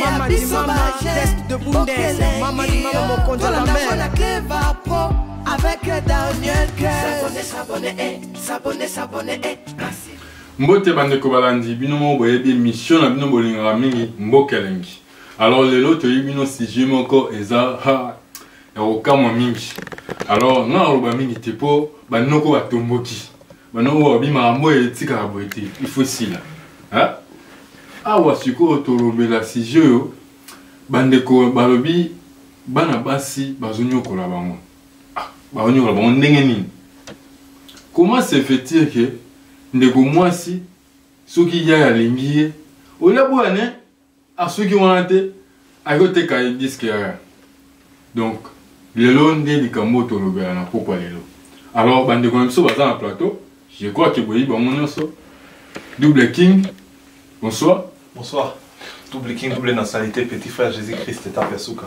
Mama di mama, test de bundes Mama di mama, mon compte à la mer Avec le Daniel S'abonner, s'abonner, eh S'abonner, s'abonner, eh Merci mbote bandeko balandi bino moko boyebi émission na bino bolingaka mingi mboka elengi alors lelo toyebi bino sujet moko eza ha ya kokamwa mingi alors nga naloba mingi te mpo banoko batomboki maintenant oyo abimaka mboye etikaka boye te il faut esila awa sikoyo tolobela sujet oyo bandeko balobi bana basi bazonyokola bango ah, bazonyokola bango ndenge nini comment se fait-il ke ndeko mwasi soki yaya alingi ye olia boya ne asuki wana te akoki koteka ye diske yaya donc lelo nde likambo oyo tolobela na pokwa lelo alors bandeko na biso baza na plateau je crois ke boyebi bango nyonso double king bonsoir bonsoir double king double nationalité petit frère jésus christ etape ya suka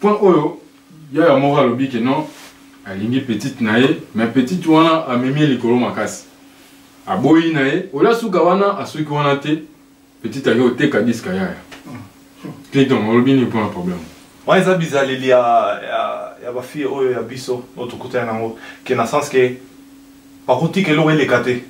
point oyo yaya moko alobi ke non alingi petite na ye mais petite wana amemi ye likolo makasi aboyi na ye oyo asuka wana asuki wana te petite ake oteka diska yaya clinton olobi nini mpona problème wana eza bizaleli ya, ya, ya bafille oyo ya biso oyo tokutani nango ke na sens ke bakotika eloko eleka te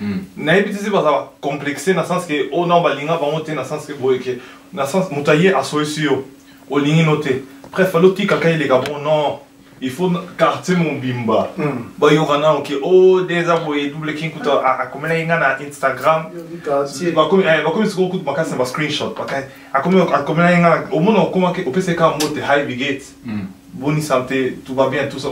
Hmm. nayebi tese baza complexe na sens ke oyo oh nao balinga bango te na sens ke boye ke na sens moto aye asoyisi yo olingi no te bref alotikaka eleka bon non il faut quartier mobimba hmm. bayoka nano ke o oh, de eza boye double king kuta akomelaki nga na instagram eh, bakomi sikoyo kutu makasi na ba screenshot akomelaki nga omona okomaki opesaki kaka mbote hi bigate hmm. bonisa mpe tuba bien tout ça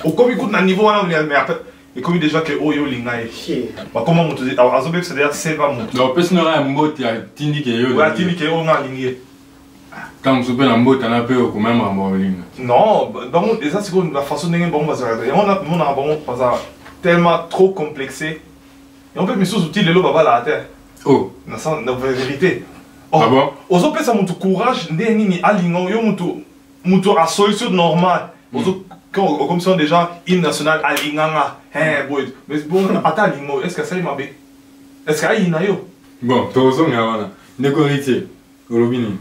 okomi kutu na niveau wana mais après ekomi deja ke oyo olinga ye bakoma moto azobebisa deja seva moto opesi na ngai ya mboti atindi ke yo atindi ke oyo nga alingi ye ntango mosusu mpe na mbota na mpe okoma ya makambo ya kolinga non bango eza sikoyo na façon ndenge bango bazalaka yango namonaka bango baza tellement trop complexe yango mpe misusu ti lelo babalaka te oh. na vérité ah ozopesa motu courage nde nini alinga yo motu moto asoyi so normal ozo okomisiona déjà hymne national alinganga boye ata alingo est ce que asali mabe est ce que ayina yo bon tokozonga wana ndeko héritier olobi nini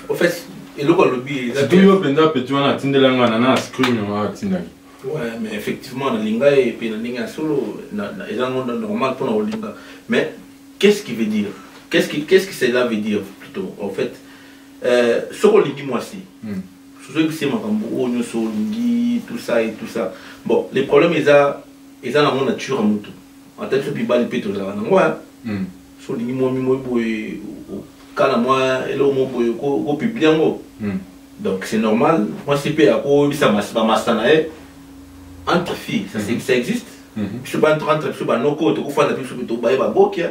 en fait eloko alobi yo mpenza peti wana atindela nga nana scrim yango atindaki Ouais, mais effectivement, na linga et puis na linga solo, na na eza monde normal pour na linga. Mais qu'est-ce qui veut dire Qu'est-ce qui qu'est-ce que cela veut dire plutôt en fait Euh, soki olingi mwasi hmm. sozoyebise makambo oyo nyonso olingi tout ça et tout ça bon le problème eza eza nango nature ya motu ata biso mibali mpe tozalaka nango ya hmm. so olingi mwami moi boye okala mwa eloko mo boye okopibli yango hmm. donc c'est normal mwasi mpe akoyebisa bamasta na ye entre fille ça existe biso entre biso banoko tokofanda biso tobaye babokia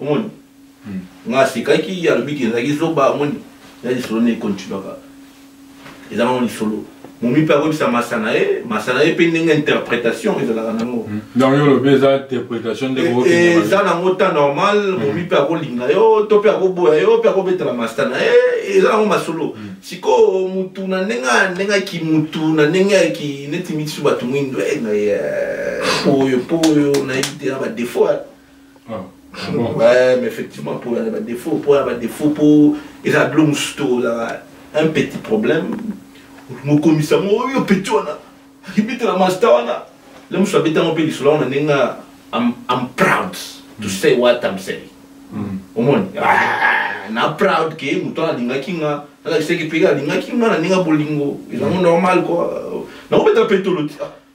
omoni hmm. nga asekaki alobi ke ezalaki zoba omoni ya lisolo nde ekontinuaka eza nango lisolo momi mpe akoyebisa masa na ye masa na ye mpe ndenge interprétation ezalaka nango hmm. donc yo olobi eza interprétation nde eh, eh, eza nango temps normal hmm. momi mpe akolinga yo to mpe akoboya yo mpe akobetela masta na ye eh, eza nango masolo hmm. sikoyo motu na ndenge ndenge aki motu na ndenge aki neti mitisu bato mwindo oyo mpo oyo nayebi te na badefaut ouais, mais effectivement, pour la ba défaut, pour la ba défaut, pour et ça blum sto là, un petit problème. Mon commissaire, mon oh, yo petit on a, il bite la master on a. Là, monsieur bite mon pays, là on a nenga, I'm I'm proud to mm. say what I'm saying. Mm. Au moins, ah, na proud que muto na linga kinga, na kiseki pega linga kinga na nenga bolingo, ils ont mm. normal quoi. Na obeta petolo.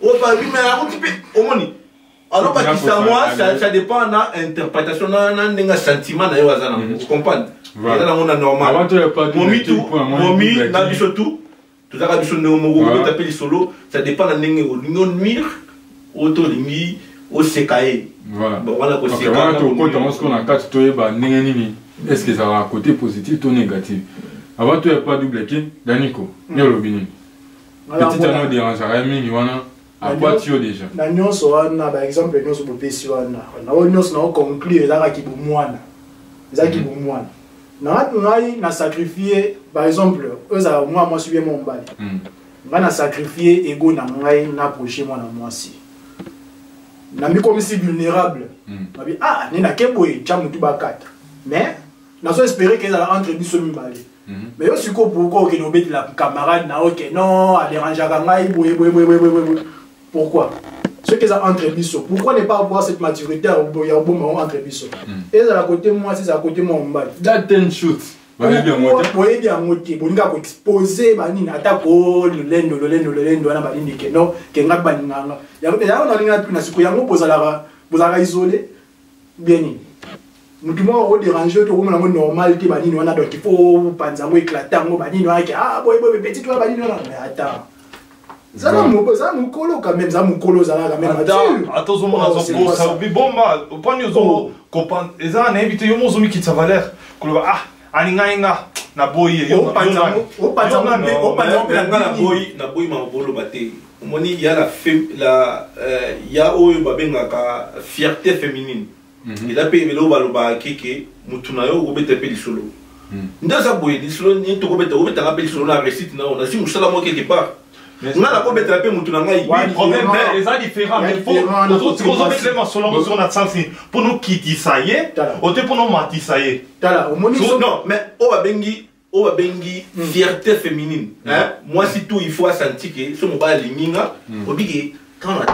obandi me akuti mpe omoni alobakisa mwa ça dépend na interprétation na ndenge sentiment na yo aza na mm. comprendre eza nango na normal momitu momi na biso tu tozalaka biso ndenge moko obeta mpe lisolo ça dépend na ndenge olingi onuire oyo to olingi oseka ye wana kosekana tokota yango sikoyo na kati toyeba ndenge nini est ce que ezalaka côté positif to négatif avant toya pa double kin daniko yo olobi nini petit wana oderangaka ye mingi wana akwati yo deja na nyonso wana baexemple nyonso bopesi wana naoyo nyonso nao conclure ezaka kibomwana eza mhm. kibomwana ngai na sacrifie par exemple oyo ezalaka mwana mwasi bie mwa mobali mhm. ngai na sacrifie ego na ngai na proche mwana mwasi namikomisi vulnérable mhm. nabi ah nini ake boye tya motu bakata mais nazo espere ke ezala entre biso mibale mhm. mais yo sikoyo pourkoi okende obetela camarade na oke non aderangeaka ngai boye boye boye boye pourquoi soki eza entre biso pourquoi ne pas avoir cette maturité ya koboma yango entre biso mhm. ezala kote mwasi ezala kote mwa mobali boyebi yango te bolinga koexpose banini ata ko lolendo lolendo lolendo wana balindi ke non ke ngai balinganga yango nalinga tuna siko yango bozalaka bozalaka isole bien nini motu moko oderange yo tokomona yango normal te banini wana donc ifo opanza yango éclate yango banini wana ke ah boye boye petit wana banini wana mais ata zala mokolo quand même za mokolo ozala quand même ata ozomona azokosa bibomba opani ozo eza na yebi te yo mo ozomikitisa valeur koloba ah alingai nga naboyi ye opanza mpe na boyi naboyi makoloba te omoni ya la, fem, la euh, ya oyo babengaka fierté féminine mm -hmm. eza mpe eloko balobaka keke motu na yo okobeta mpe lisolo mm. nde aza boye lisolo nini tokobeta obetaka mpe lisolo na récite na yo nasi mosala moko quelque part nga nakobetela mpe motu na ngai eza différent mais ozobetele masolo yango soko na sansi mpo nokitisa ye ote mpo nomatisa ye non mais oyo babengi oyo babengi hmm. fierté féminine hmm. mwasi tu il faut asanti ke so mobali alingi nga hmm. obi ke ntango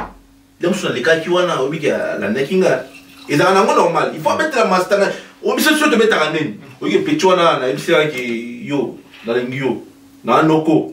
nde mosusu nalekaki wana obi ke alandaki nga ezalaka nango normal il faut abetela masta na oyo biso biso tobetaka nini oyoki epeti wana nayebiselaki yo nalingi yo na noko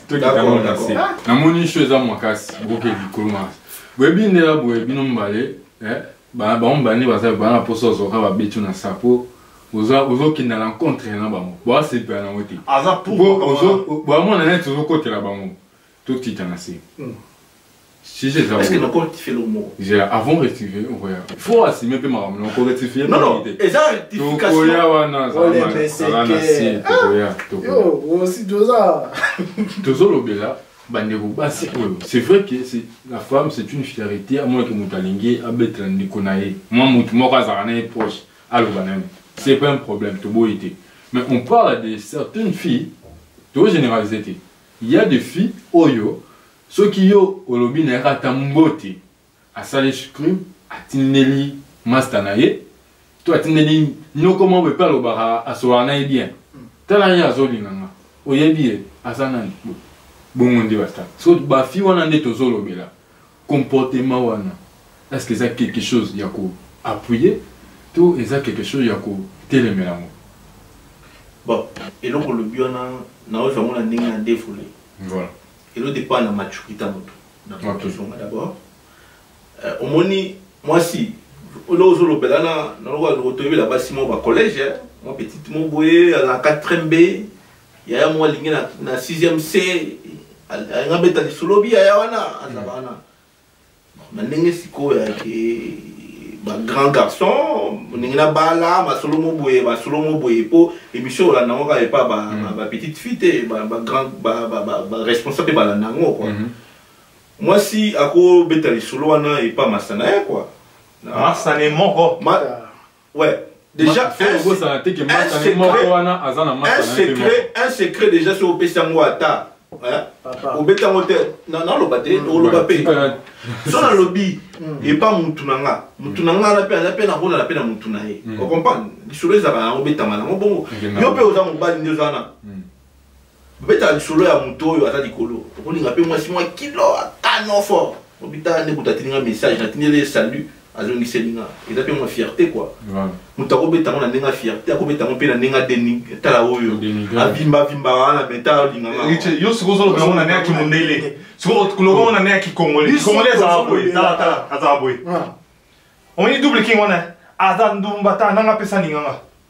D'accord, d'accord. namoni sho eza makasi boke likolo makasi boyebi ndela boye bino mibale eh, ba- bango mibale nde baza bana mposa ozoka babeti yo na sapo oza- ozokenda na contre na bango boasepela nango te aza Po ozo- boamona neti ozokotela bango totita na se Si j'ai Est-ce que nako rectifier le mot J'ai avant rectifier, on voyait. Il faut assumer peu maman, on peut rectifier. Non non, et ça rectification. Tokoya wana, ça va. Ça va merci, tokoya, tokoya. Yo, aussi doza. Tozo lobela. bandeko basi oyo c'est vrai que la femme c'est une fierté à moins que moto alingi abetela ndeko na ye mwa moto moko azalaka na ye proche aloba na ye c'est pas un problème toboyi te mais on parle de certaines filles togénéralise te il y a des filles oyo soki yo olobi na ye kaka ata mbote asali scrim atindeli masta na ye to atindeli noko moko epe alobaka asolaka na ye bien tala ye azolinga nga oyebi ye aza nani bongo nde basta so bafi wana nde tozolobela comportement wana est ce que eza quelque chose ya ko appuyer to eza quelque chose ya kotelemela yango bon eloko olobi wana naozwa yango na ndenge na defole voilà elo dépend na maturité ya moto na tozonga d'abord euh, omoni mwasi olo ozolobela na nalokola toyebela basi mwa bacollège eh, mwa petite mo boye na 4 b yaya mwa alingi na 6 c alingi abeta lisolo bi yaya wana azala wana na ndenge sikoyo yake bagrand garçon ndenge na bala masolo mo boye masolo mo boye mpo émission olanda yango kaka epa bapetite mm. fille te baresponsable mpe balanda yango kua mm-hmm. mwasi akobeta lisolo wana epa masana ye kua masane moko Ouais. Déjà, un, un, secret, un secret déjà sur au Pessango Ata. obeta yango te naloba te mm. oloba mpe so nalobi mm. epa mutu na nga mutu na nga aza mpe aza mpe nakolala mpe na mutu na ye mm. ocomprendre lisolo ezalaka yango obetama nango bongo yo mpe oza mobali nde oza na bobetaka lisolo ya moto oyo aza likolo okolinga mpe mwasi mwa kilo akano fort obitala nde kutu atindi nga message natindeli ye salut azongiseli nga eza mpe mwa fierté kua moto akobeta yango na ndenge ya fierté akobeta yango mpe na ndenge ya tala oyo avimbavimbaka wana me tala olingangaayo sikoyo ozoloba yango na ndenge ya kimundele sikoyo loba yango na ndenge ya kikongole kikongole ezala boye talatala azala boye omoni double king wana aza ndumba ta nanga apesa ninganga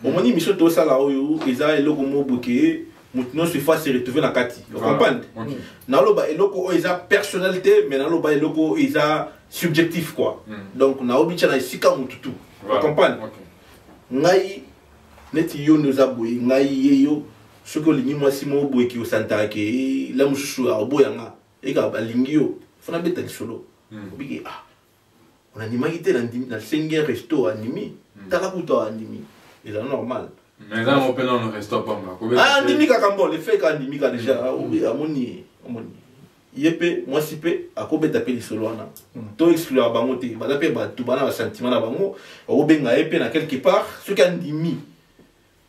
bomoni émission tosala oyo eza eloko moko boke moto nyonso ifo ase retrouve na kati ocomprendre naloba eloko oyo eza personnel te mais naloba eloko oyo eza subjectif quoi mm. donc naobi tya na esika motu tu ocomprendre ngai neti yo nde oza boye ngai ye yo soki olingi mwasi moko boye ki osantaka ke eh, la mosusu aoboya nga eka balingi yo fona beta lisolo mm. obiki ah onandimaki te nasengi un resto andimi hmm. tala kutu andimi eza normal ah, andimi kaka mbo lefeka andimi ka deja hmm. ah, amoni amoni ye mpe mwasi mpe akobeta mpe lisolo wana hmm. to exclura bango te baza mpe bato bana basentiment na bango okobenga ye mpe na quelque part soki andimi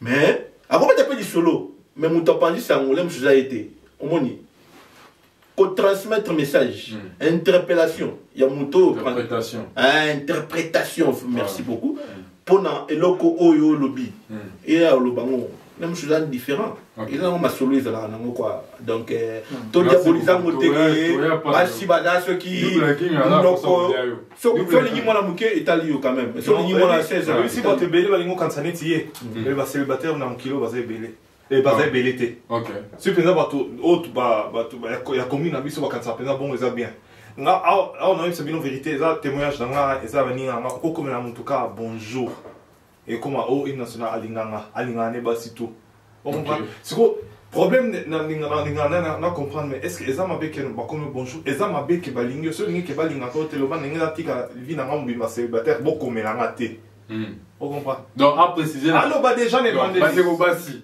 mais akobeta mpe lisolo mais moto apanzi sango le mosusu eza ye te omoni kotransmettre message mm. interpellation ya moto oyo interprétation, ah, interprétation. merci ah. beaucoup mpo mm. na eloko oyo olobi mm. eya oloba ngo na mosusu eza différent okay. eza nango masolo ezalaka nango kua donc eh, mm. todiabolisa ngo te basi baza soki noko soki olingi mwana moke etali yo quand même soki olingi mwana 16 ans oyebisi bato ebele balingi okanisa neti ye mm. eh, bacélibataire na mokili oyo baza ebele eh, baza ah. ebele te soki mpenza bato oyo bato ya commune na biso bakanisa mpenza bongo eza bien nga awa naoyebisa bino verité eza témoignage na nga eza baninga nga okokomela motu kaka bonjour ekoma o oh, hymne national alinganga alinganga ne basi tout okomprendre sikoyo problème nalingana na comprendre mais est ce que eza mabe ke bakomi bonjour eza mabe ke balingi yo so olingi ke balinga to te loba ndenge natika vi na nga mobimba célibataire bokomela nga te hmm. okomprendre donc aprécise aloba déjà ne bandebasi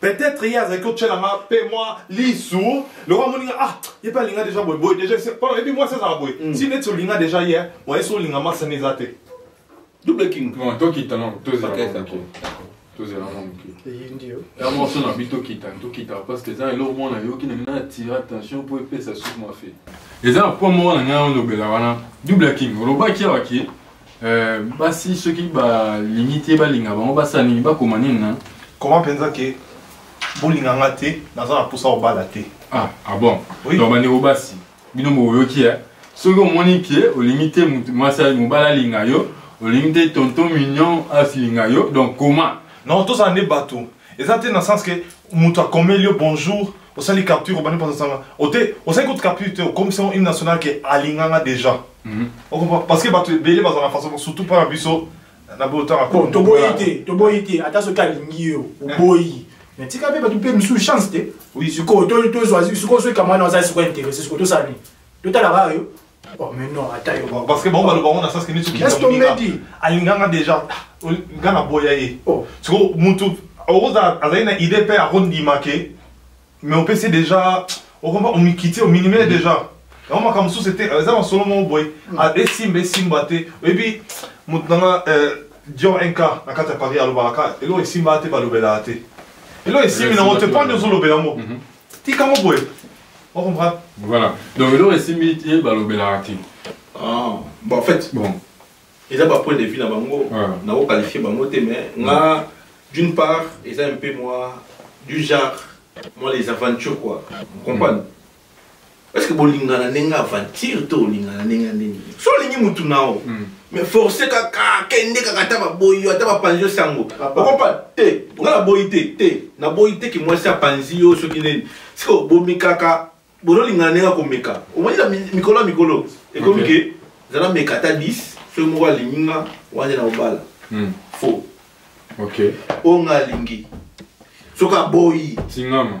peut-être ye azalaki kotyela nga mpe mwa lisu lokola moni nga ah ye mpe alinga deja boye boye deja mpona ebi mwasi azala boye mm. si neti olinga deja ye oye so olinga mwasi ane eza te double king tokita no tozela mwa moke ya morso na bi tokita tokita parce que eza eloko moko nayoki na ngai natira attention mpo epesa suki mwa fe eza na point moko na ngai olobela wana double king olobaki awaki Euh, basi soki balingi te balinga bango basala nini bakoma nini na koma mpenza ke bolinga nga te naza na mposa kobala te ah, ah bon oui. donc bandeko basi bino boyoki ya soki omoni ke olingi te mwasi mobali alinga yo olingi te tonton mignon asilinga yo donc koma non tozala nde bato eza te na sens ke moto akomeli yo bonjour osali capture obandi mposa sanga ote osali kutu capture te okomisa une nationale ke alinganga déjà mhm. okomprend parce que bato ebele bazala na façon surtout mpo na biso na botanga toboyi te toboyi te ata soki alingi yo oboyi mais tika mpe bato mpe mosusu chance te sikoyo tozwa sikoyo soki kamwana aza sikoyo interesse sikoyo tosala nini totalaka yo Oh, mais non, attends. Parce que bon, le baron n'a ça ce que nous sommes. Est-ce qu'on m'a dit Alinganga déjà, Gana Boyaye. Oh. Tu vois, Moutou, Rosa, a une idée paix à Rondi Maké, mais on peut c'est déjà, on va on m'y quitter, on m'y mm-hmm. déjà. yango makambo mosusu ete eza na solo moko boye mm. ah, esimba esimba te oyebi moto nanga euh, dior nk na kati ya paris alobaka eloko esimba te balobelaka te eloko esimbi nango te mpo nde ozolobela yango mm-hmm. tika ngo boye on comprend voilà donc eloko esimbi ye balobelaka te ah bon en fait bon eza ba point de vue na bango na ko qualifier bango te mais nga d'une part eza un peu moi du genre moi les aventures quoi vous comprenez mm. est ce que bolingana ndenge aventure to olingana ndenge ya ndenge so olingi mutu na yo hmm. mais force kaka kende kaka ata baboyi yo ata bapanzi yo sango okompa te nga naboyi te te naboyi te ke mwasi apanzi yo soki nini siko bomekaka bozolingana ndenge akomeka omoni na mikolo ya mikolo ekomi ke zala meka ata 10 soki moko alingi nga wana na obala hmm. faux oyo nga alingi soki aboyi tingama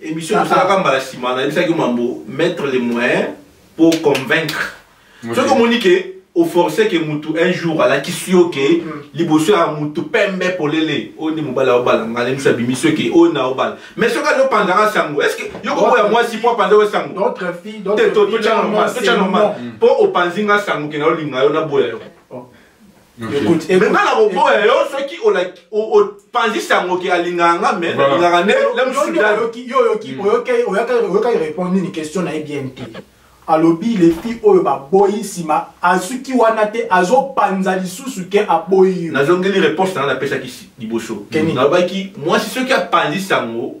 Emission ah, tosalaka ah. mbala nsima nayebisaki yo mambo mettre les moyens pour convaincre soki omoni ke oforce ke mutu un jour alakisi yo ke mm. liboso ya mutu pembe polele oyo nde mobali aobala ngai namiso abimisi yo ke oyo naobala mais soki azopanzaka sango estce yo koboya mwasi mpo apanza yo sango te totya normal mpo opanzi ngai sango ke naolinga yo naboya yo me nga na koboya yo soki opanzisi yango ke alingaka nga me nalingaka nde oyokaki répondre nini question na ye bien te alobi lefi oyo baboyi nsima azuki wana te azopanza lisusu ke aboyi yo nazongeli réponse nanga napesaki liboso nalobaki mwasi soki apanzi sango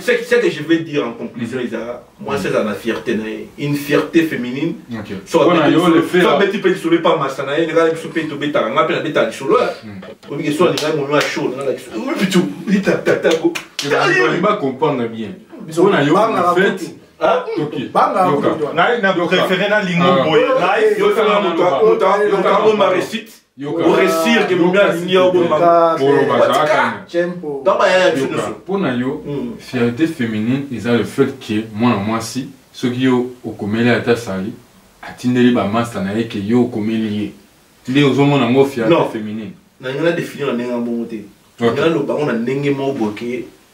ce que je veux dire en conclusion eza mwasi aza na fierté na ye une fierté féminine sobeti mpe lisolo epa masa na ye ndekala biso mpe tobetaka nga mpe nabetaka lisolo obike so alingai momi ya chaud nanga bitu litatatago ba comprendre bien biso na yo na fete ngai na préféré na lingo boye ngai yokango maresite Yoka. Oresir que mimi alingi yo bo mama. Polo bazalaka. Tempo. Dans ba yaya biso nyonso. Mpo na yo, hmm. fierté féminine eza le fait que mwana mwasi soki yo okomeli ata sali atindeli bamasta na ye ke yo okomeli ye nde ozomona yango fierté féminine. Na ngana définir na ndenge ya bongo te. Ngana lobango na ndenge moko boke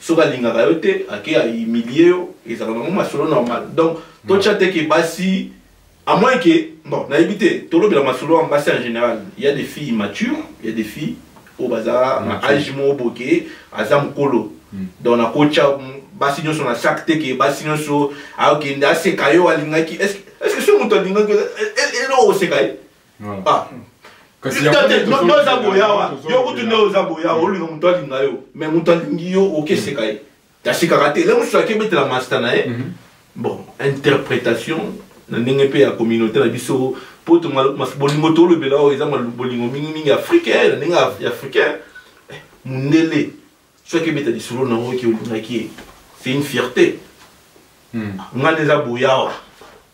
soki alingaka yo te ake a humilie yo ezala nango masolo normal donc totya te ke basi à moins que bon nayebi te tolobela masolo ya basi en général il y a des filles immatures il y a des filles oyo baza na age moko boke aza mokolo hmm. donc nakotya basi nyonso na sac te ke basi nyonso akende aseka yo alingaki est ce que soki moto alingaki eloko oseka ye ah. oza boyawa yo kutu nde oza boyawa olinga moto alinga yo me moto alingi yo okeseka ye tasekaka te le mosusu akebetela masta na ye mhm. bon interprétation na ndenge mpe ya communauté na biso mpo bolingo tolobela oyo eza bolingo mingimingi africain na ndenge ya africain eh, mondele soki ebeta lisolo na yango eke olingaki ye c'est une fierté hmm. ngai nde eza boyawa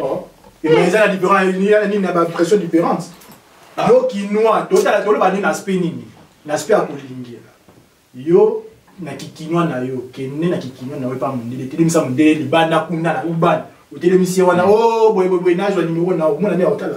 Oh. Et mais ils ont la différence, il y a une impression différente. Ah. Yo kinois, totala toloba ni aspect nini? L'aspect akolingi. Yo na kikinois na yo, kenne na kikinois na yo pa mondele, telemisa mondele libanda kuna na ubana. Otelemisi wana, oh boye boye boye nazo numéro na yo, mona ni otala.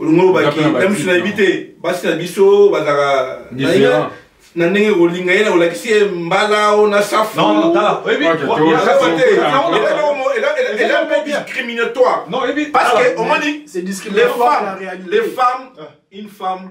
olongo olobaki na misu nayebi te basi na biso bazalaka na ndenge kolinga ye na kolakisi ye mbala o na safu eza mpe discriminatoire parce que omoni les femmes une femme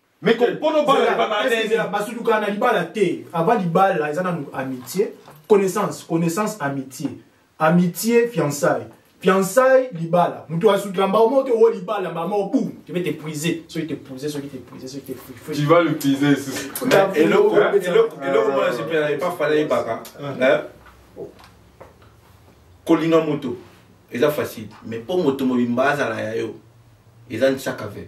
mais ko kono bala ba ba nene basudu kana libala te avant libala eza na amitié connaissance connaissance amitié amitié fiançailles fiançailles libala mutu asukila mbao moko te o libala mbala moko boum tu vas t'épuiser soki t'épuiser soki t'épuiser soki t'épuiser tu vas l'épuiser susu eloko eloko eloko moi je peux pas fallait baka hein kolinga moto eza facile mais mpo moto mobimba azala ya yo eza nsakave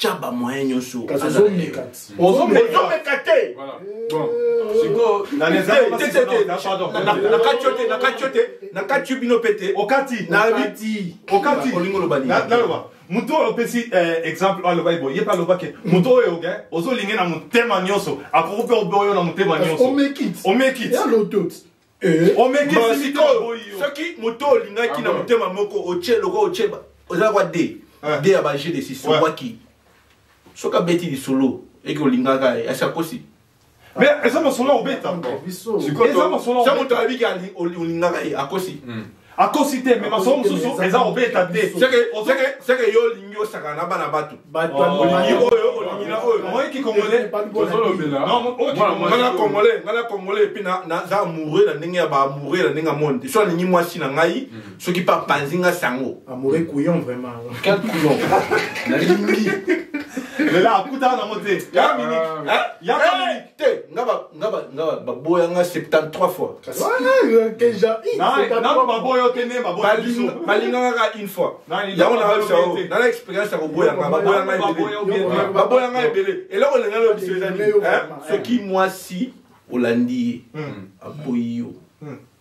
tya bamoyen nyonso ozomeka te nakati yo te nakati yo te nakati yo bino mpe te okati olingi oloba nini moto oyo opesi eh, exemple oyo alobaki boye ye mpe alobaki moto oyo oke ozolingi na motema nyonso akoki mpe oboyo na motema nyonso omekit Eh, sikoyo soki moto olingaki ah, na motema moko otie loko otie oza kwa de ah. de ya baje de sisowaki soki abeti lisolo eke olingaka eh, asi akosi mais eza masolo obeta eza masolo moto ayebiki olingaka ye eh, akosi hmm. akosi te me masolo mosusu eza kobeta te seke yo olingi osaka na bana batu olingi oyo olingi na oyo omoyi kikongole ngana kongole ngana kongole epuis naza amoureux na ndenge ya baamoureux na ndenge ya monde so alingi mwasi na ngai mm. soki mpe apanzi nga sango amoureux couillon vraiment quel couillon nalingi lela akutana nango te ya miniki ya miniki te nga ba nga ba nga ba boya nga 73 fois kasi déjà nanu ba boya te ne ba boya biso balinga nga une fois yango na ba sao na la expérience ya ko boya nga ba boya nga ebele ba boya nga ebele eloko lenga lo biso ezali hein soki mwasi olandi ye aboyi yo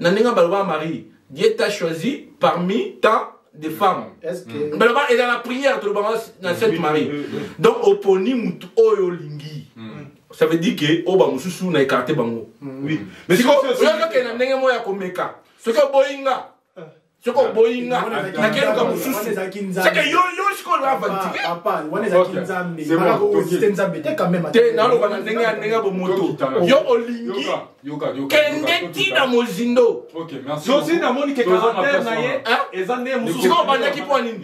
na ndenge ya baloba marie dieu t'a choisi parmi tant de femmes mm. baloba eza na prière tolobanga na sainte marie donc oponi motu oyo olingi mm. ça veut dire que oyo bamosusu na écarte bango mm. oyokokende na ndenge moko ya komeka soki oboyi nga soki oboyi nga nakeluka mosusu seke yo yo sikoyo avantire nzambe te naloba na ndenge ya ndenge ya bomoto yo olingi kende ti na mozindo yosi namoni ke caractère na ye eza nde mosusu obandaki mpo nini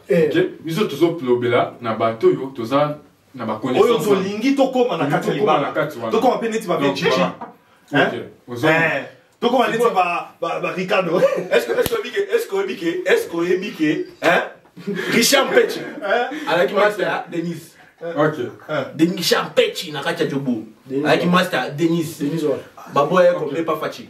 eh. ok biso tozolobela na bato oyo toza na baoyo tolingi tokóma na kati ya libala tokóma mpe neti babeji tokóma neti baricado oyebi ke eske oyebi ke richard mpechi alaki master ya denise richard mpechi na kati ya jobo alaki master ya denise baboya ye kombe pa faci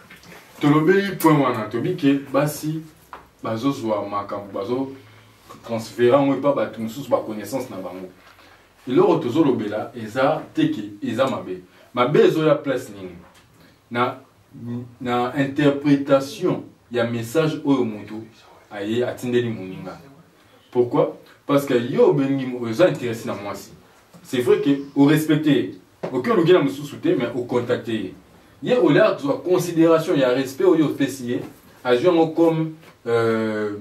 tolobeli point wana tobi ke basi bazozwa makambo bazo transfere yango epa bato mosusu baconnaissance na bango eloko tozolobela eza teke eza mabe mabe ezoya place nini na, na interpretation ya message oyo moto aye atindeli moninga Pourquoi? Parce que yo obengi oza intéressé na mwasi. C'est vrai que au respecter, oke olukela mosusu te mais au contacter ye. Ye au lieu azwa considération ya respect oyo opesi ye, azwi yango comme euh,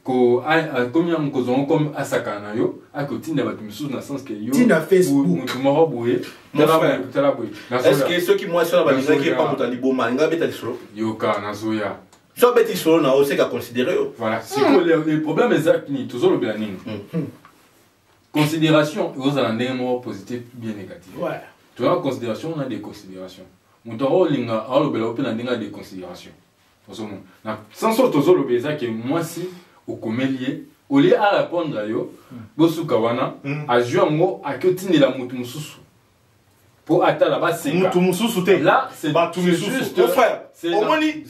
ko akomi yango kozwa yango comme asakana na yo akotinda bato mosusu na sens ke yomoto moko boye tala boye soki mwasi wana balingaki epa moto ya liboma alinga abeta lisolo yoka nazoya so abeti lisolo na yo seke aconsidere yo voilà sikoyo le, le problème eza nini tozolobela nini hmm. considération ekozala ndenge moko positif bien négatif toza considération na déconsidération moto yango olinga aolobela yo mpe na ndenge ya déconsidération ozomona na sens oyo tozolobela eza ke mwasi okomeli ye olie arépondre yo hmm. bosuka wana hmm. azwi yango ake otindela moto mosusu po atala baseka mutu mususu te là c'est batu mususu mon frère omoni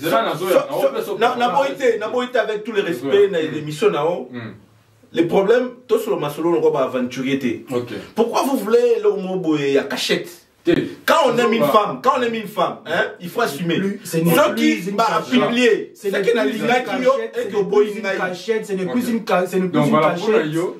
na boyi te na boyi te avec tous les respects na mm. émission na o mm. les problèmes to solo masolo na ko ba aventurier te pourquoi vous voulez le mot boye ya cachette quand on aime une femme, quand on aime une femme, hein, il faut assumer. Ce qui va publier, c'est qui n'a l'ingaki yo et que boy cachette, c'est ne plus une cachette.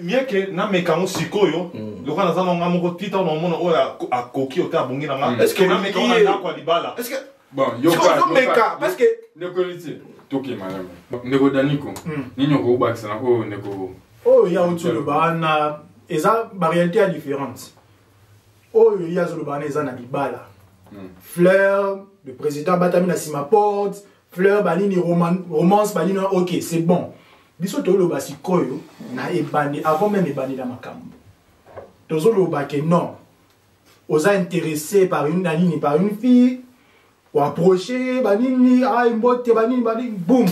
mieux que nameka yango sikoyo mm. lokola naza na nga moko ti ntango namona oyo akoki ote abongi na nga mm. eske nameka yango na ndako ya libala ozomeka parce que ndeko eliti tokema yango ndeko daniko mm. nini okobakisa na oyo ndeko oyo oh, ya outi oloba wana eza baréalité ya différence oyo oh, ye azoloba wana eza na libala fleur le président abatami na nsima porte fleur banini romance banini ok c'est bon biso toloba sikoyo na ebandi avant meme ebandela makambo tozoloba ke non oza intéressé par une na nini par une fille oapproche banini ayi mbote banini banini boum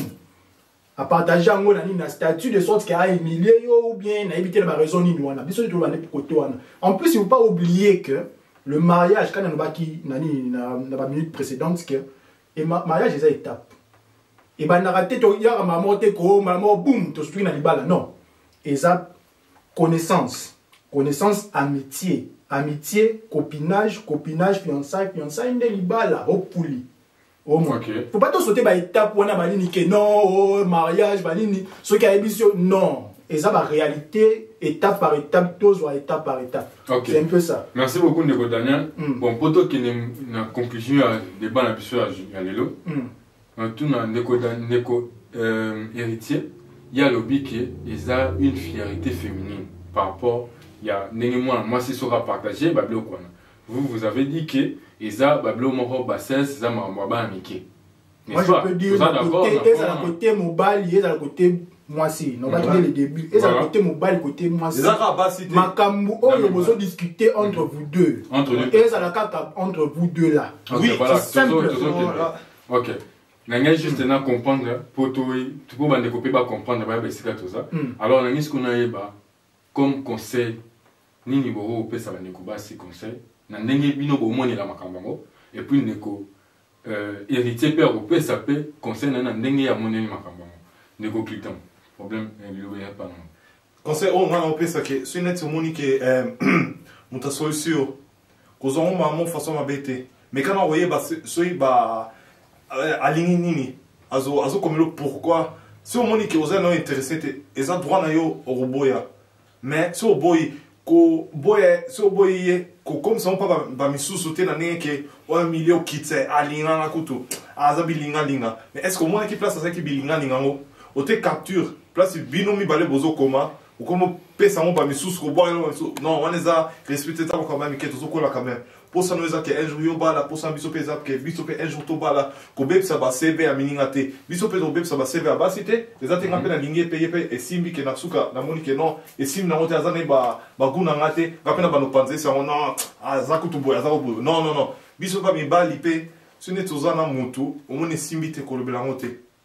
apartage yango na nini na statut de sorte ke ahumilie yo ou bien nayebi te na baraison nini wana biso nde toloba nde kote wana en plus il faut pas oublier que le mariage kani alobaki na nini na baminute précédente que mariage eza étape ebandaka te toyaka mbala moko te ko mbala moko boum tosutuki na libala non eza connaissance connaissance amitié amitié copinage copinage fiançaille fiançaille nde libala opuli omwa okay. po bato sote baetape wana banini ke non oh, mariage banini soki ayebisi yo non eza baréalité étape par étape tozwa étape par étape okay. c'est un peu ça merci beaucoup ndeko daniel mm. bon mpo tokende na conclusion ya débat na biso ya lelo mm. Natuna ndeko da ndeko euh, héritier ye alobi ke eza une fierté féminine par rapport ya ndenge mwana mwasi soki apartage babiloko wana vous vous avez dit ke eza babiloko moko bassesse eza makambo ya bana mike Moi, je peux dire, ezala kote mobali, ezala kote mwasi nobaki dès le début ezala kote mobali kote mwasi makambo oyo bozo discute entre vous deux ezala kaka entre vous deux là oui c'est simple ok nangai juste na comprendre po to bandeko mpe bacomprendre bayeba esika toza alors nangai sikoyo nayeba Comme conseil nini boko kopesa ba ndeko basi conseil na ndenge bino bomonela makambo yango et puis ndeko euh, héritier mpe akopesa mpe conseil na ye na ndenge ye amoneli makambo yango ndeko cliton problème eh, liloba ya mpa nango conseil oyo ngai naopesa ke soki neti omoni ke eh, moto asolisi yo kozwa ngo mamu façon mabe te mais kana koyeba soki ba euh, alingi nini azo azo komelo pourquoi si omoni ke oza nayo interesse te eza droit na yo okoboya mais si oboyi koboya si oboyi ye kokomisa mpo bamisusu te na ndenge ke oyo milieu okitse alinganga kutu aza bilingalinga mais est ce que omonaki place azalaki bilingalinga yango ote capture place bino mibale bozokoma okomopesa yango bamisusu kobwaka yango bamisusu non wana eza respect te ntango kama mike tozokola quand même mposa no eza ke un jour yo obala mposa na biso mpe eza ke biso mpe un jour tobala kobebisa basebe ya mininga te biso mpe tokobebisa basebe ya basi te eza te nga mpe nalingi epeye mpe esimbi ke na suka namoni ke non esimbi nango te aza na ye bagu na nga te nga mpe na banopanza esi yango non aza kutu boye aza koboye non non non biso mpe mibali mpe soki neti oza na motu omoni esimbi te kolobela yango te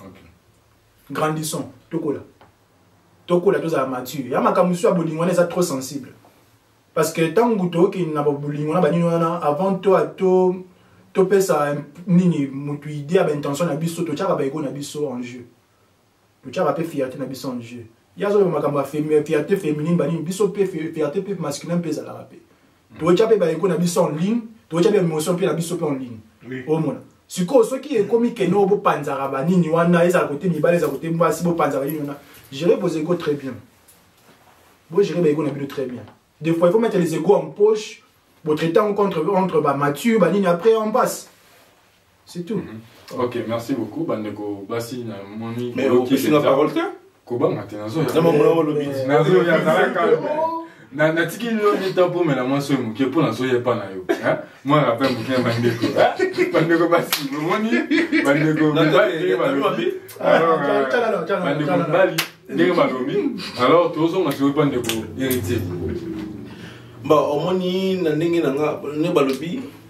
okay. grandissons tokola tokola tozala mature ya makambo mosusu ya bolingo wana eza trop sensible parce que ntango tokende na bolingo na banini wana avant to to topesa nini moto idée ya baintention na biso totyaka baego na biso en jeu totyaka mpe fierté na biso en jeu ye azoloba makambo ya fierté féminine banini biso mpe fierté mpe masculin mpe ezalaka mpe toyotya mpe baeko na biso en ligne toyotya mpe emotion mpe na biso mpe en ligne omona sikoyo soki ekomi kene oyo bopanzaka banini wana ezala kote mibale ezala kote mwasi bopanzaka nini wana gere vos ego très bien bogere baego na bino très bien des fois il faut mettre les ego en poche botraite yango contre entre bamature banini après en passe c'est tout mhm. ok merci beaucoup bandeko basi na moni mais opesi na parole te kobanga te natiki lino lita mpomela mwasi oyo moke mpo nazoya epa na yo mwa rappel moke ya bandeko bandeko basi omoni bandeko mibali ndenge balobi alors tozonga sikoyo mpa ndeko héritier ba omoni na ndenge na nga ne balobi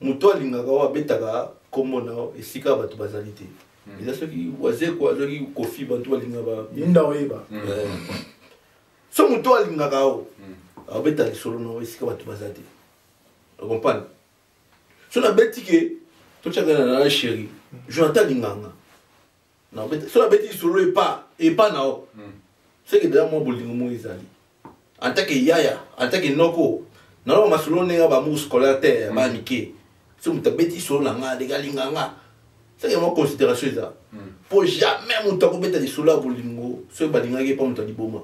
moto alingaka oyo abetaka nkombo na yo esika bato bazali te hmm. eza soki wazeko azwaki kofi bantu balingaka yinda oyeba hmm. eh. so moto alingaka yo abeta hmm. lisolo na yo esika bato baza te ocompane so nabeti ke totyaka na na sheri jonathan alinganga soki abeti lisolo epa epa na yo hmm. seke deja mwa bolingo moko ezali antake yaya antake noko naloba masolo ndenge ya bamour scolaire te ya bana mike so moto abeti lisolo na nga ndenge alinga nga seke mwa considération eza mpo hmm. jamais moto akobeta lisolo ya bolingo soki balingaki epa moto aliboma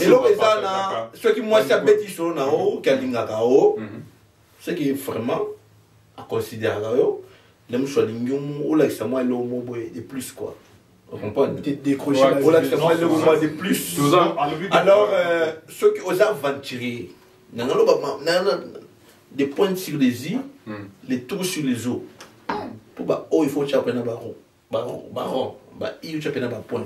eloko eza na soki mwasi abeti lisolo na yo ke alingaka yo hmm. ce qui vraiment aconsideraka yo na mosu alingi olakisa mwa eloko mo boye de plus quoi olakisa mwa eloko mwa de plus alors euh, soki oza aventurier nanga loba des pointes sur les i hmm. les tours sur les eaux mpo baoyo il faut otya mpe na baron baron baron ba i otya mpe na bapoint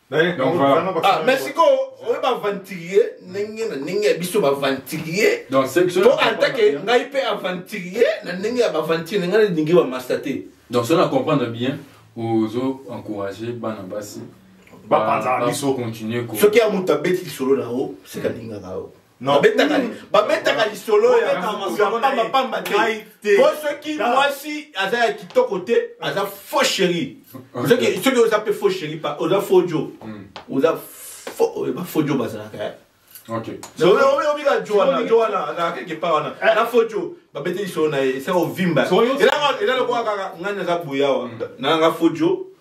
Ah, mais sikoyo oyo baventurier ndenge na ndenge ya biso baventurier po antake ngai mpe aventurier na ndenge ya baventurier ngai nalingi bamasta te donc soki na comprendre bien ozo encourage bana basi bapanzaka biso continue soki ya moto abeti lisolo na yo sekalingaka yo babetaka lisolo ya pambapamba te po soki mwasi aza ya kitoko te aza faux chéri soki oza mpe faux chéri oza faux jo hmm. oza bafaux jo bazalaka eh. obika jo wana jo wana azalaka quelque part wana eh. na faux jo babeti lisolo na ye esa ovimba elanga lokola kaka ngai naza boyawa hmm. nanga faux jo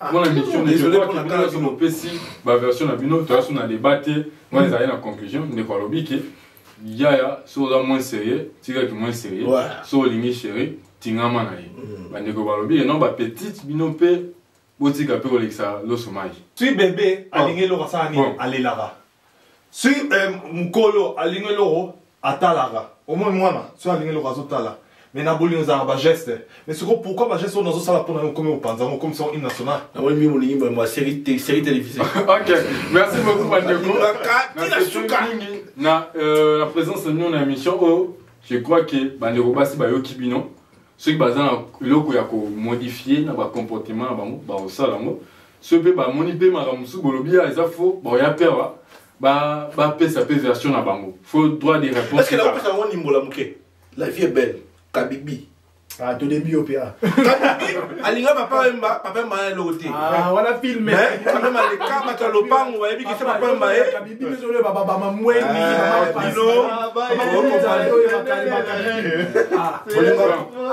Ah, mpo na mission ndekoakibinoso mopesi baversion na bino toya so na débat te moi ezali na conclusion ndeko alobi ke yaya so oza moins sérieux tikaki moins sérieux so olingi chéri tingama na ye mm. bandeko balobi ye non bapetite bino mpe botika mpe kolekisa loso mai soki bebe alingi eloko asala nini alelaka si eh, mokolo alingi eloko atalaka omoni mwana soki alingi eloko azotala mais na bolingo ezalaka bageste mais sikoyo pourquoi bageste oyo nazosala mpo na yo okomi opanza yango okomisa yango hymne national nakomi bolingi boyembo ya série télévisée ok merci beaucoup bandeko mingi na euh, présence na bino na émission oyo je crois que bandeko basi bayoki bino soki baza na eloko ya komodifie na bacomportement na bango bakosala yango soki mpe bamoni mpe makambo mosusu bolobi ya eza fo baoya mpe awa bapesa mpe version na bango fo droit de réponse yango ndimbola moke la vie est belle kabibi ah, tolembi yo mpe ah. alinga papa emba papa emba ya eloko te ah, wana filme papa emba leka bato ya lopango bayebi kese papa emba ye bino ezolo baba bama mweni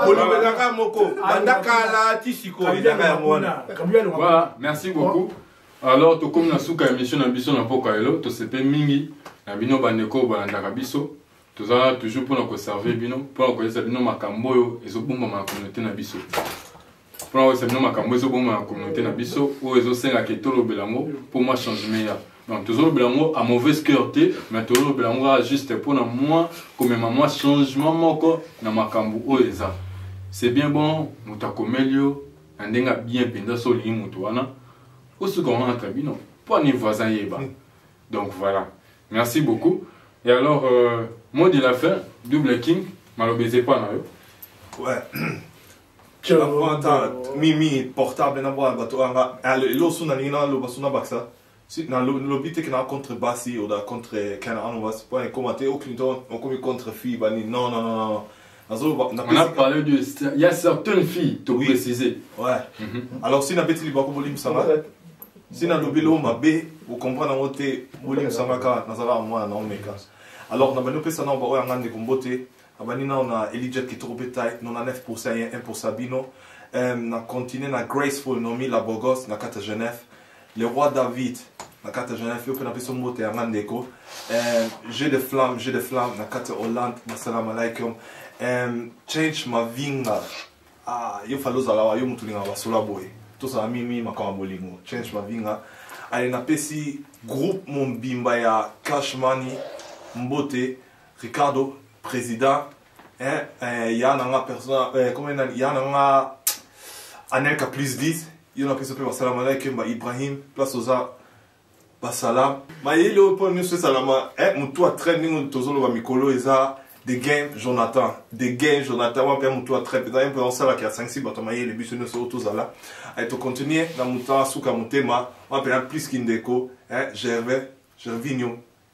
bolobelaka moko banda kala ti sikoyo ezaka yango wana merci beaucoup alors tokomi na suka ya mission na biso na mpoka lelo tosepe mingi na bino bandeko oyo balandaka biso toza toujours mpona koserve bino mpona koyesa bino makambo oyo ezobombama na communauté na biso mpona koyebisa bino makambo ezoboma na communauté na biso oyo ezosenga ke tolobela yango mpo mwa changement ya donc tozolobela yango a mauvaise cœur te mais tozolobela yango kaka juste mpona mwa komema mwa changement moko na makambo oyo eza c'est bien bon moto akomeli yo na ndenge ya bien mpenza so olingi moto wana osuka wana entre bino mpo ani voisin yeba hmm. donc voilà merci beaucoup et alors euh, mot de la fin double king maloba eza epa na yo ouais. mimi portable na bwana bato anga elo suna ningi na loba suna bakisa na lobi te kena contre basi oda contre kena ano basi po ekoma te aucune temps okomi contre fille bani non non non non on a parlé de il y a certaines filles to oui. préciser ouais mm -hmm. alors si na beti liba ko bolim sanga si na lobi lo mabe o comprendre ngo te bolim sanga ka na zala mwana na omeka alors na bano pesa na ba oyanga ndeko mbote abandi nao na elijat kitoko mpe tai 99 pourcent ye 1 pourcent bino um, na continue na graceful nomi la bogos na kati ya genève le roi david na kati ya genève yo mpe napesi mbote yanga ndeko um, jeu de flamme jeu de flamme na kati ya hollande masalaam alaikum um, change mavinga ah, yo fali ozala wa yo motu olingaka basola boye tozala mimi makambo ya bolingo change mavinga ale napesi groupe mobimba ya cash money mbote Ricardo president hein eh, ya na nga persona eh, comment na ya na nga Anelka plus 10 yo na pesa pe basala mala kemba Ibrahim place oza basala mayele oyo mpo nyonso esalama eh, motu a traite ndenge tozoloba mikolo eza de gain jonathan de gain jonathan wana mpe ya motu atraite eza ye mpe aosalaka asangisi bato mayele biso nyonso oyo tozala eh, tocontinue na motu asuka motema wana mpe na plus kindeko eh, gervais gervinio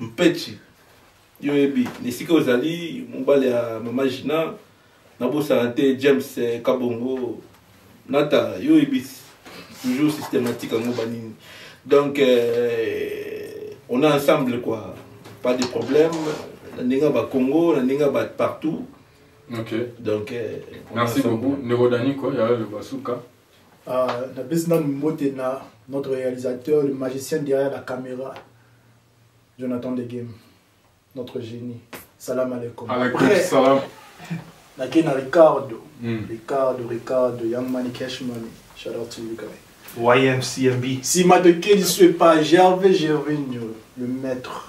mpechi yo oyebi na esika ozali mobali ya mama gina nabosana te james eh, kabongo nata yo oyebi toujours systématique yango banini donc euh, on est ensemble quoi pas de problème na ndenge ya bakongo na ndenge ya bato partout ok donc euh, on est merci ensemble. beaucoup ndeko daniko ya loba suka Uh, napesi nanu mbote na notre réalisateur le magicien derrière la caméra jonathan de game notre génie salam alaikum nakei na ricardo mm. ricardo ricardo young money cash money shout out to you guy ymcmb nsima tokei lisu epa gerve gervinio le maître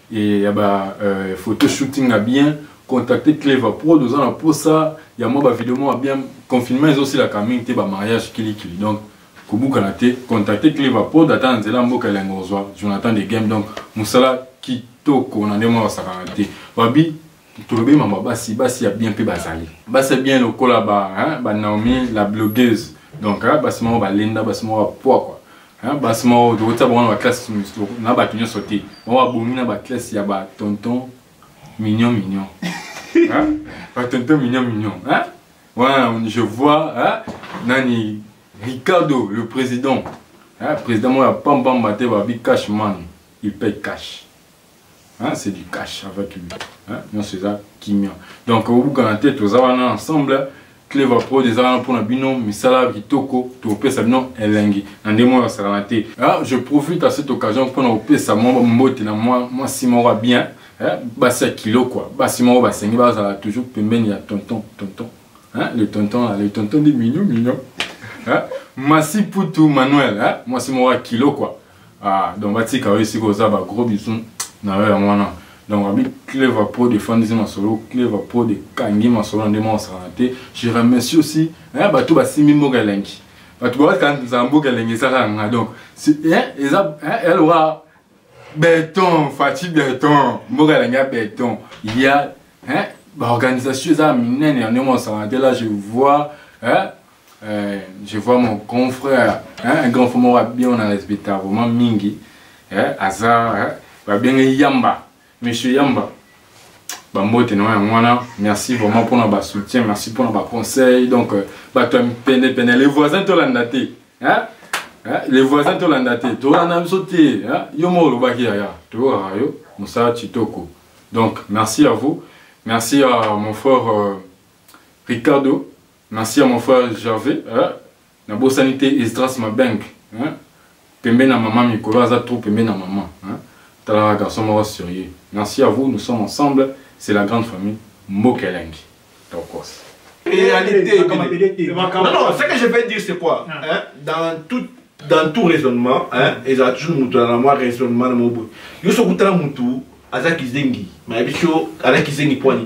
et ya ba euh, photo shooting ya bien contacter clever prod oza na posa ya mwa ba video mwa bien confinement ezosilaka mingi te ba mariage kilikili donc kobukana te contacter clever prod ata na nzela ya mboka elengo ozwa jonathan de game donc mosala kitoko na ndenge mwa basakana te babi tolobi mama basi basi ya bien mpe bazali basi ya bien lokola ba, hein, ba naomi la blogueuse donc hein, basi moko balenda basi moko bapwakwa hein, basi moko tokotia bango na baklasse na bato nyonso te bango babongi na baklasse ya batonton mignon mignon hein? batonton mignon mignon hein? wana ouais, je vois hein? nani ricardo le président hein? président moko ya pambamba te babi cash man il paye cash Hein, c'est du cash avec lui. Hein, non, c'est ça, kimia. Donc, au bout de la tête, nous avons ensemble. clever pro eza wana mpona bino misala kitoko topesa bino elengi na ndenge moko yasalana te ah, je profite à cette occasion mpona kopesa mwa mbote na mwasi moko ya bien eh, basi ya kilo kua basi moko basengi bazala toujours pembeni ya tonton tonton hein, le tonton là, le tonton de mignon mignon hein, masi putu manuel hein, mwasi moko ya kilo kua ah donc batika yo esika oza ba gros bisous na yo yango wana donc abi clever prod efandisi masolo clever prod ekangi masolo nde mwa osakana te je remercie aussi eh, bato basimbi mboka elengi bato bakanza mboka elengi eza kaka nga donc eh, eza eh, eloka beton fati beton mboka elengi ya beton ya baorganisation eza minene ya ndenge mwa osakana te là je vois Euh, je vois mon grand frère, hein, un grand frère m'a bien, on a respecté vraiment Mingi, hein, Azar, hein, va bien Yamba, monsieur Yamba. bambote na yango wana merci vraiment mpona basoutien merci mpona baconseil donc euh, bato ya penepene les voisins tolanda te les voisins tolanda te tolanda biso te yo moko olobaki yaya toyokaka yo mosala kitoko donc merci à vous merci à mon frère euh, ricardo Merci à mon frère Gervais. Hein? Na bosani te Esdras Mabeng. Hein? Pembe na maman Mikolo aza trop pembe na maman. Hein? Tala garçon moko sérieux. Merci à vous, nous sommes ensemble, c'est la grande famille Mbokelengi. Tokos. Réalité. Non non, ce que je vais dire c'est quoi ah. hein? Dans tout dans tout raisonnement, hein, et ça toujours mutu na moi raisonnement na mobo. Yo sokutala mutu aza kizengi, mais biso aza kizengi poani.